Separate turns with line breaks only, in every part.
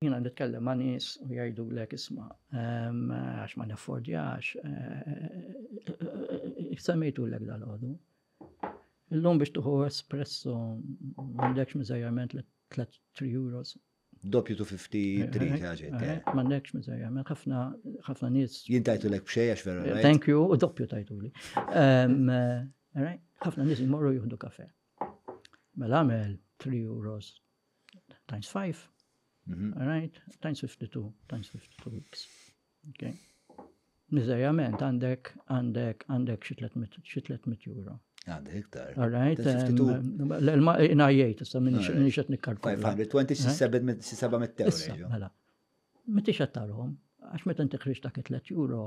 Jiena nitkellem ma' nies u jgħidulek isma' għax ma naffordjax. Semmejtulek dal-għodu. Illum biex tuħu espresso m'għandekx miżajjament li 3 euros. Doppju tu 50
trid ħaġet. M'għandekx miżajjament
ħafna ħafna nies. Jien tajtulek b'xejn għax
vera. Thank you, u doppju
tajtuli. Ħafna nies jmorru jieħdu kafe. Mela għamel 3 euros times 5, mhm. right, times 52, times 52 weeks. Okay. Nizajament, għandek, għandek, għandek xi 300 euro.
Għandek
iktar. All right. Ina jgħid, issa minni xet nikkalkula. 527 euro.
Mela,
meti xattarhom, għax meta inti ħriġ dak 3 euro,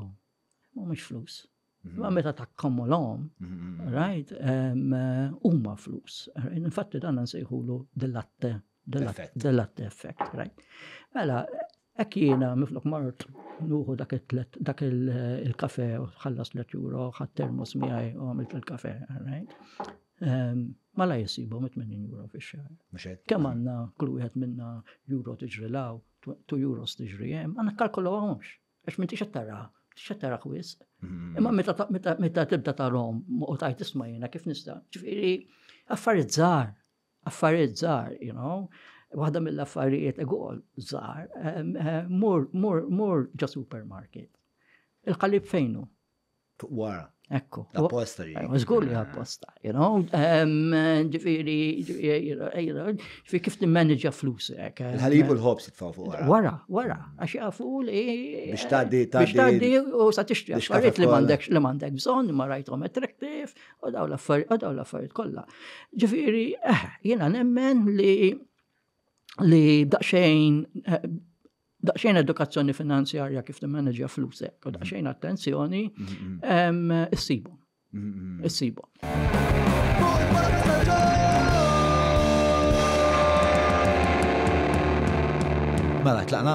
mhumiex flus. Mhm. Ma meta takkomolhom, mhm. right, eh, huma flus. Infatti dan nsejħulu dell-atte, dell-atte effect, right. Mela, hekk jiena miflok mort nuħu dak dak il-kafe u ħallas let euro, ħadd termos miegħi u għamilt il-kafe, right. Ma la jisibu mit 80 euro fi xar. Kemm għandna kull wieħed minna euro tiġri law, 2 euros tiġri hemm, għandna kalkolu għomx. Għax m'intix qed taraha, m'intix qed taraha wisq. Mm-hmm. Imma meta meta tibda tarhom u tajt isma' jiena kif nista'. Ġifieri affarijiet żgħar, affarijiet żgħar, you know. Waħda mill-affarijiet egol żgħar, mur mur mur ġo supermarket. Il-qalib fejnu? Fuq wara.
Ekku. Apposta
li.
Zgur li apposta,
you know. Ġifiri, ġifiri kif t-manager flus. Għalibu l-ħobs
jitfaw fuq wara. Wara, wara. Għax jafu
li. Bix taddi,
taddi. Bix taddi u sa tixtri.
Xarit li mandek, li mandek bżon, ma rajtom attractive, u daw l-affarijiet, u daw l-affarijiet kolla. Ġifiri, eh, jena nemmen li li daqxejn eh, daqsxejn edukazzjoni finanzjarja kif timmaneġja flusek, u daqsxejn attenzjoni, issibhom. Issibhom.
Mela, tlaqna?